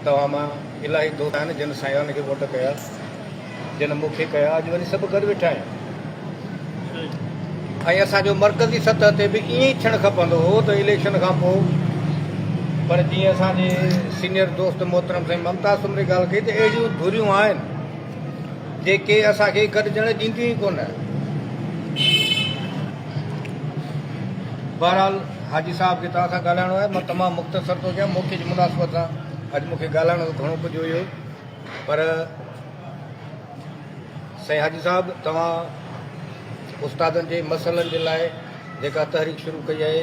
توهان مان الاهي دوست آهن جن سائينوان کي ووٽ ڪيا جن مون کي ڪيا اڄ وڃي سڀ گڏ ويٺا آهيون ۽ اسان جو مرڪزي سطح تي به ائين ئي ٿيڻ کپندو هو ته اليڪشن کان پوء پر جيئن اسان جي سينيئر دوست محترم سائين ممتاز سمري ڳالهه ڪئي ته اهڙيون ڌريون آهن جيڪي اسان کي گڏجڻ ڏينديون ئي ڪونه بهرحال حاجي صاحب کي توهان سان ڳالهائڻو آهي مان تمام مختصر ٿو ڪيان موقعي جي مناسبت سان اڄ مون کي ڳالهائڻو ته گهڻو ڪجهه هيو پر سائين حاجي صاحب توهان استادن جي مسئلن جي لاء جيڪا تحريڪ شروع ڪئي آهي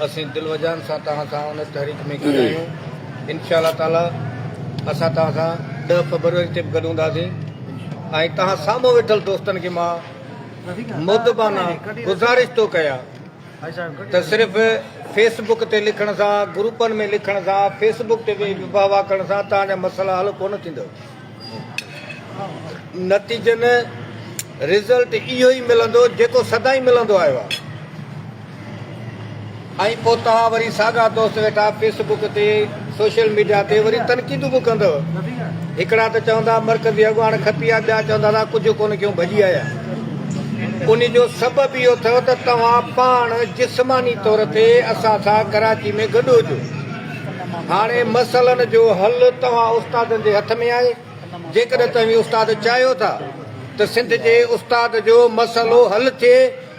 اسين دل وجان سان توهان سان ان تحريڪ ۾ گڏ آهيون انشاء الله تعاليٰ اسان توهان سان ڏه فبروري تي به گڏ هونداسين ۽ توهان سامهون ويٺل دوستن کي مان مدبانه گذارش ٿو ڪيان ته صرف فيس بڪ تي لکڻ سان، گروپن ۾ لکڻ سان، فيس بڪ تي ويهي ويهه واهه ڪرڻ سان توهان جا مسئلا حل ڪونه ٿيندؤ. نتيجن، Result، اهو ئي ملندو جيڪو سدائين ملندو آيو آهي ۽ پوء توهان وري ساڳا دوست ويٺا فيس بڪ تي سوشل ميڊيا تي وري تنقيدون به ڪندو. هڪڙا ته چوندا مرڪزي اڳواڻ کپي آ ٻيا چوندا اسان ڪجهه ڪونه ڪيون ڀڄي آيا. انهي جو سبب اهو اٿئو ته توهان پاڻ جسماني طور تي اسان سان ڪراچي ۾ گڏ هجو. هاڻي مسئلن جو حل توهان استادن جي هٿ ۾ آهي جيڪڏهن توهين استاد چاهيو ٿا ته سنڌ جي استاد جو مسئلو حل ٿئي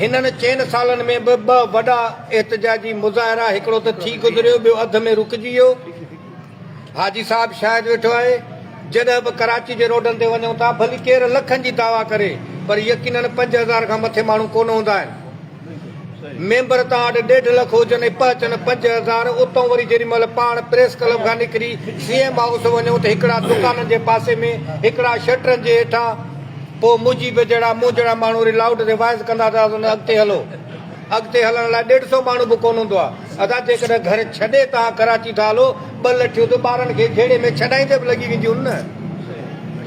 هنن چئن سالن ۾ به ٻه وڏا احتجاجي مظاهرا هڪڙو ته ٿي گذريو ٻيو اڌ ۾ رڪجي ويو. حاجي صاحب شاهد ويٺو آهي جڏهن به ڪراچي جي روڊن تي وڃون ٿا ڀلي ڪير لکن جي دعويٰ ڪري پر يقينن پنج هزار کان مٿي ماڻهو ڪونه هوندا آهن. ميمبر تان اڏ ڏيڍ لک هجن ۽ پهچن پنج هزار اتئون وري جيڏي مهل پاڻ پريس ڪلب کان نڪري سي ايم هائوس وڃون ته هڪڙا دڪانن جي پاسي ۾ هڪڙا شٽرن جي هيٺان پوء مجيب جهڙا موجهڙا ماڻهو وري لائوڊ ريوائز ڪندا ته اهو نه اڳتي هلو. اڳتي هلڻ لاء ڏيڍ سئو ماڻهو به ڪونه هوندو آهي. ادا جيڪڏهن گهر ڇڏي توهان ڪراچي ٿا هلو، ٻه لٺيون ته ٻارن کي جهيڙي ۾ ڇڏائيندي به لڳي وينديون نه.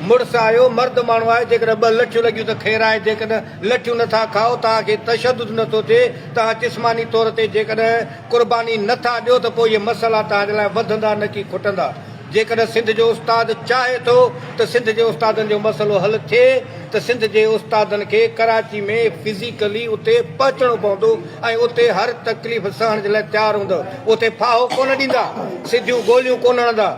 مڙس آهيو، مرد ماڻهو آهيو، جيڪڏهن ٻه لٺيون لڳيون ته خير آهي، جيڪڏهن لٺيون نه ٿا کائو، توهان کي تشدد نه ٿو ٿئي، توهان جسماني طور تي جيڪڏهن قرباني نه ٿا ڏيو ته پوء اهي مسئلا توهان جي لاء وڌندا نه ڪي کٽندا. جيڪڏهن سنڌ جو استاد چاهي ٿو ته سنڌ جي استادن جو مسئلو حل ٿئي ته سنڌ جي استادن کي ڪراچي ۾ فزيڪلي اتي پهچڻو پوندو ۽ اتي هر تڪليف سهڻ جي لاء تيار هوندا اتي ڦاهو ڪونه ڏيندا سڌيون گوليون ڪونه هڻندا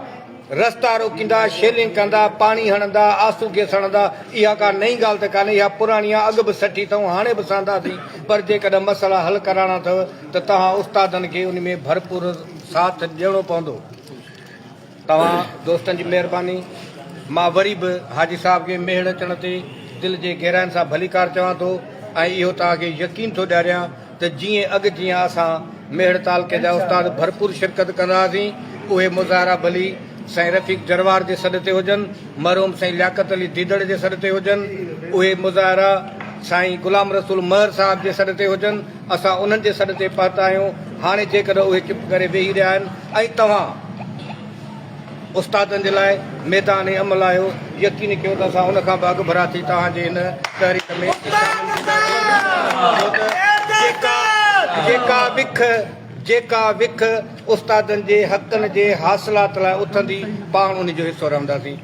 رستا روڪيندا شيلنگ ڪندا پاڻي هڻندا آسو گيس هڻندا اها ڪا نئين ڳالهه ته ڪانهي اها پراڻي آهي اڳ به سٺي اٿئون هاڻي به سهنداسين پر جيڪڏهن مسئلا حل ڪرائڻا اٿو ته توهان استادن کي ان ۾ ڀرپور ساٿ ڏيڻو پوندو. توهان دوستن جي مهرباني. مان وري به حاجي صاحب کي ميهڙ اچڻ تي دل جي گهراين سان ڀليڪار چوان ٿو ۽ اهو توهان کي يقين ٿو ڏياريان ته جيئن اڳ جيان اسان ميهڙ تعلقي جا استاد ڀرپور شرڪت ڪندا هئاسين اهي مظاهرا ڀلي سائين رفيق جروار جي سڏ تي هجن مرحوم سائين لياقت علي ديدڙ جي سڏ تي هجن اهي مظاهرا سائين غلام رسول مهر صاحب جي سڏ تي هجن اسان انهن جي سڏ تي پهتا آهيون، هاڻي جيڪڏهن اهي چپ ڪري ويهي رهيا آهن ۽ توهان استادن جي لاء ميدان عمل آهيو، يقين ڪيو ته اسان ان کان به اڳڀرا ٿي توهان جي هن تحريڪ ۾ شامل ٿينداسين، ڇو ته جيڪا جيڪا وک جيڪا وک استادن جي حقن جي حاصلات لاء اٿندي، پاڻ ان جو حصو رهنداسين.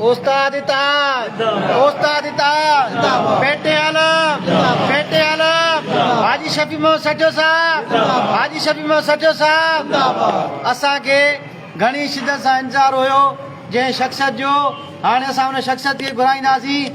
استاد اتحاد استاد اتحاد پيٽي عالم پيٽي عالم حاجي شفيع محمد سجو صاحب حاجي شفيع محمد سجو صاحب اسان کي گهڻي شدت سان انتظار هيو جنهن شخصيت جو هاڻي اسان ان شخصيت کي گهرائينداسين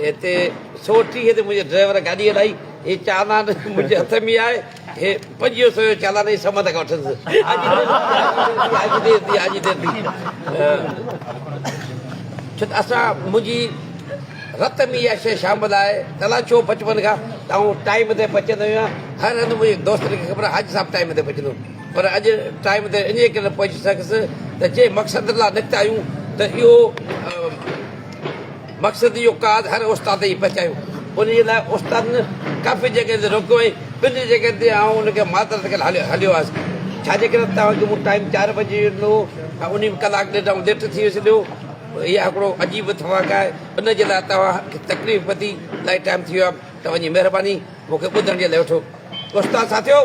هتي سؤ ٽيهه تي منهنجي ڊرائيور گاڏي هلائي، هي چالان منهنجي هٿ ۾ آهي، هي پنجيهه سؤ جو چالان هي سمنڊ کان وٺندس. آجي دير ٿي، آجي دير ٿي، آجي دير ٿي. ڇو ته اسان منهنجي رت ۾ اها شيء شامل آهي ته الاء ڇو بچپن کان ته آئون ٽائيم تي پهچندو هيان، هر هنڌ منهنجي دوستن کي خبر آهي حاجي صاحب ٽائيم تي پهچندو پر اڄ ٽائيم تي انهيء ڪري نه پهچي سگهيس ته جنهن مقصد لا نڪتا آهيون ته اهو مقصد اهو ڪاڌ هر استاد تائين پهچايو. ان جي لاء استادن ڪافي جڳهين تي روڪيو ۽ ٻن جڳهين تي آئون ان کي معذرت ڪري هليو هليو آيس. ڇاجي ڪري ته توهان کي مون ٽائيم چار بجي جو ڏنو هو ۽ انهي ۾ ڪلاڪ ڏيڍ آئون ليٽ ٿي ويس ڏيو. اها هڪڙو عجيب اتفاق آهي. ان جي لاء توهان کي تڪليف پتي الائي ٽائيم ٿي ويو آهي ته وڃي مهرباني مون کي ٻڌڻ جي لاء وٺو. استاد ساٿيو!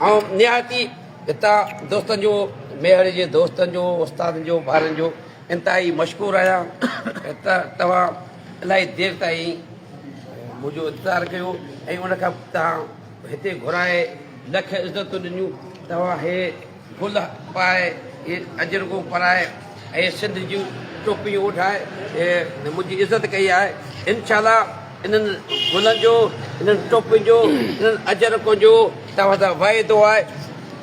آئون نهايت ئي هتان دوستن جو ميهڙ جي دوستن جو استادن جو ٻارن جو انتهائي مشڪور آهيان ته توهان الاهي دير تائين منهنجو انتظار ڪيو ۽ ان کان توهان هتي گهرائي لک عزتون ڏنيون توهان هي گل پائي هي اجرڪون پرائي هي سنڌ جون ٽوپيون اوڍائي منهنجي عزت ڪئي آهي انشاء الله انهن گلن جو، انهن ٽوپين جو، انهن اجرڪن جو توهان سان واعدو آهي.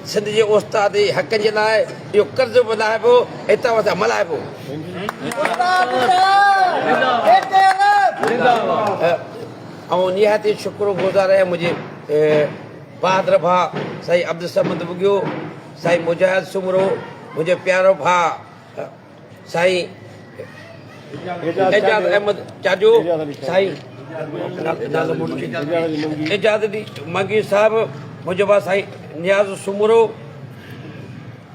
سنڌ جي استاد جي حقن جي لاء اهو قرض به لاهبو ۽ توهان سان ملهائبو. آئون نهايت ئي شڪر گذار آهيان منهنجي بهادر ڀاء سائين عبدالصمد ٻگهيو، سائين مجاهد سومرو، منهنجو پيارو ڀاء سائين اعجاز احمد چاجو سائين اعجاز علي منگي صاحب منهنجو ڀاء سائين نياز سومرو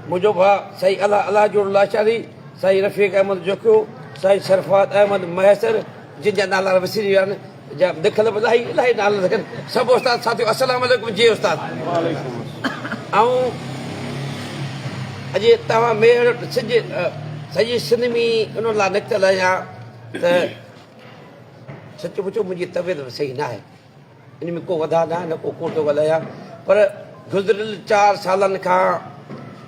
منهنجو ڀاء سائين الله الله جوڙ لاشاري سائين رفيق احمد جوکيو سائين سرفات احمد مهيسر جن جا نالا وسري ويا آهن جا لکيل به الاهي الاهي نالن سان گڏ سڀ استاد ساٿيو السلام عليڪم جي استاد آئون اڄ توهان ميهڙ سج سڄي سنڌ ۾ ان لاء نڪتل آهيان ته سچ پچو منهنجي طبيعت به صحيح ناهي ان ۾ ڪو وڌا ناهي نه ڪو ڪوٽو ڳالهايان پر گذريل چار سالن کان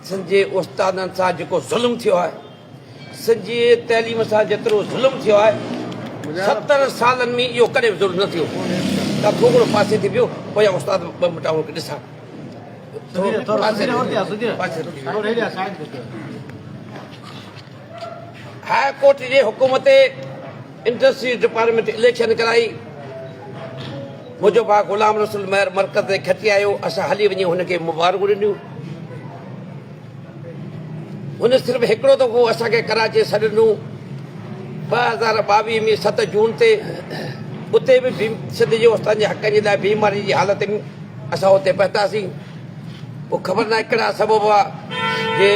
سنڌ جي استادن سان جيڪو ظلم ٿيو آهي سڄي تعليم سان جيترو ظلم ٿيو آهي ستر سالن ۾ اهو ڪڏهن به ظلم نه ٿيو ته ٿو گهڻو پاسي ٿي بيهو پويان استاد ٻه منٽ آئون کي ڏسان هاء ڪورٽ جي حڪم تي انڊسٽريز ڊپارٽمينٽ اليڪشن ڪرائي منهنجو ڀاء غلام رسول مهر مرڪز تي کٽي آيو اسان هلي وڃي هن کي مبارڪون ڏنيون ان صرف هڪڙو دفعو اسان کي ڪراچي سڏ ڏنو ٻه هزار ٻاويهه ۾ ست جون تي اتي به سنڌ جي استادن جي حقن جي لاء بيماري جي حالت ۾ اسان اتي پهتاسين پوء خبر نه ڪهڙا سبب هئا جي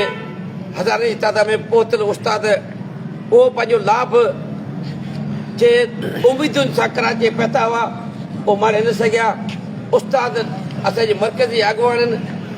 هزارين جي تعداد ۾ پهتل استاد اهو پنهنجو لاڀ جي اميدن سان ڪراچي پهتا هئا اهو ماري نه سگهيا استاد اسان جي مرڪزي اڳواڻن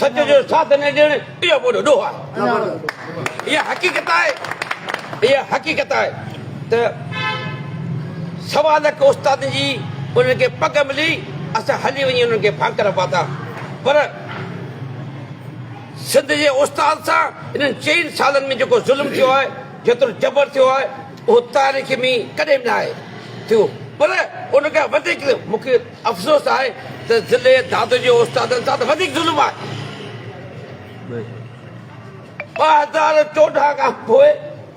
سچ جو ساٿ نه ڏيڻ اهو وڏو ڏوهه آهي. اها حقيقت آهي اها حقيقت آهي ته سوا لک استادن جي انهن کي پڳ ملي اسان هلي وڃي انهن کي ڀانڪر پاتا پر سنڌ جي استاد سان انهن چئن سالن ۾ جيڪو ظلم ٿيو آهي جيترو جبر ٿيو آهي اهو تاريخ ۾ ڪڏهن به نه آهي ٿيو پر ان کان وڌيڪ مون کي افسوس آهي ته ضلعي دادو جي استادن سان ته وڌيڪ ظلم آهي. ٻه هزار چوڏهن کان پوء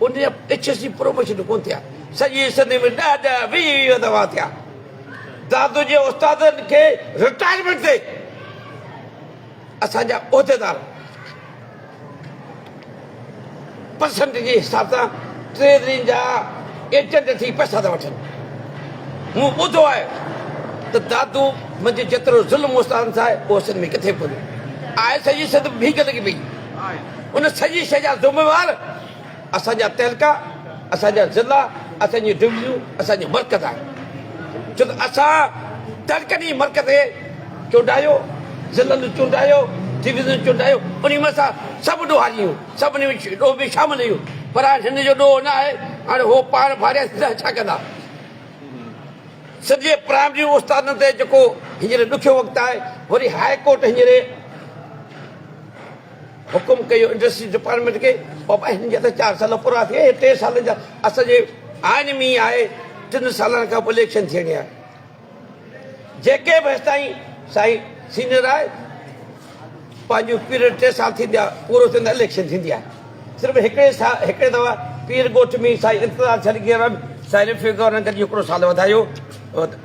انهيء ايڇ ايس سي پروموشن ڪونه ٿيا. سڄي سنڌ ۾ ڏهه ڏهه ويهه ويهه دفعا ٿيا. دادو جي استادن کي رٽائرمينٽ تي. اسان جا عهديدار پرسنٽ جي حساب سان ٽريزري جا ايجنٽ ٿي پئسا ٿا وٺن. مون ٻڌو آهي ته دادو منجهه جيترو ظلم استادن سان آهي اهو سنڌ ۾ ڪٿي ڪونهي آهي سڄي سنڌ ڀيڪ لڳي پئي ان سڄي شئي جا ذميوار اسان جا تعلقا، اسان جا ضلع، اسان جون ڊويزنون اسان جو مرڪز آهن، ڇو ته اسان تعلقن ئي مرڪز کي چونڊايو، ضلعن چونڊايو، ڊويزنن چونڊايو، انهي مان اسان سڀ ڏوهاري آهيون، سڀ انهي ۾ ڏوهه ۾ شامل آهيون، پر هاڻ هن جو ڏوهه نه آهي، هاڻ هو پاڻ ڀاريا سڌا ڇا ڪندا؟ سنڌ جي پرائمري استادن تي جيڪو هينئر ڏکيو وقت آهي، وري هاء ڪورٽ هينئر. حڪم ڪيو انڊسٽريز ڊپارٽمينٽ کي بابا هن جا ته چار سال پورا ٿي ويا هي ٽي سالن جا اسان جي آئين ۾ ئي آهي ٽن سالن کان پوء اليڪشن ٿيڻي آهي جيڪي به هستائين سائين سينيئر آهي پنهنجو پيريڊ ٽي سال ٿيندا پورو ٿيندو اليڪشن ٿيندي آهي صرف هڪڙي هڪڙي دفعا پير ڳوٺ ۾ سائين انتظار ڇڏ گيرن سائين رفيق گورنر گڏجي هڪڙو سال وڌايو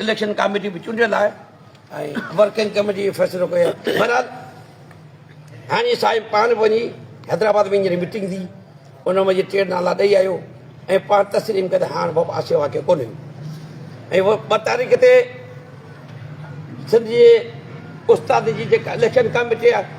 اليڪشن ڪاميٽي به چونڊيل آهي ۽ ورڪنگ ڪميٽي به فيصلو ڪيو آهي بهرحال هاڻي صاحب پاڻ به وڃي حيدرآباد ۾ هينئر ميٽنگ ٿي ان ۾ جي ٽي نالا ڏئي آيو ۽ پاڻ تسليم ڪيو ته هاڻ بابا آسيو واقعي ڪونهي ۽ ٻه تاريخ تي سنڌ جي استاد جي جيڪا اليڪشن ڪاميٽي آهي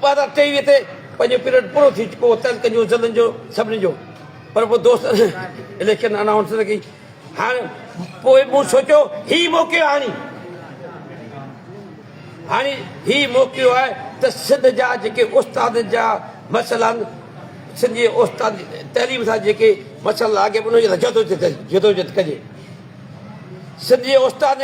ٻار اٺين ويهه تي پنهنجو پيريڊ پورو ٿي چڪو هو تنهن ڪنجو زدن جو سڀني جو پر پوء دوست اليڪشن انائونس نه ڪئي هاڻ پوء مون سوچيو هي موقعو هاڻي هاڻي هي موقعو آهي ته سنڌ جا جيڪي استاد جا مسئلا آهن سنڌ جي استاد تعليم سان جيڪي مسئلا آگي ان جي لاء جدوجهد جدوجهد ڪجي سنڌ جي استاد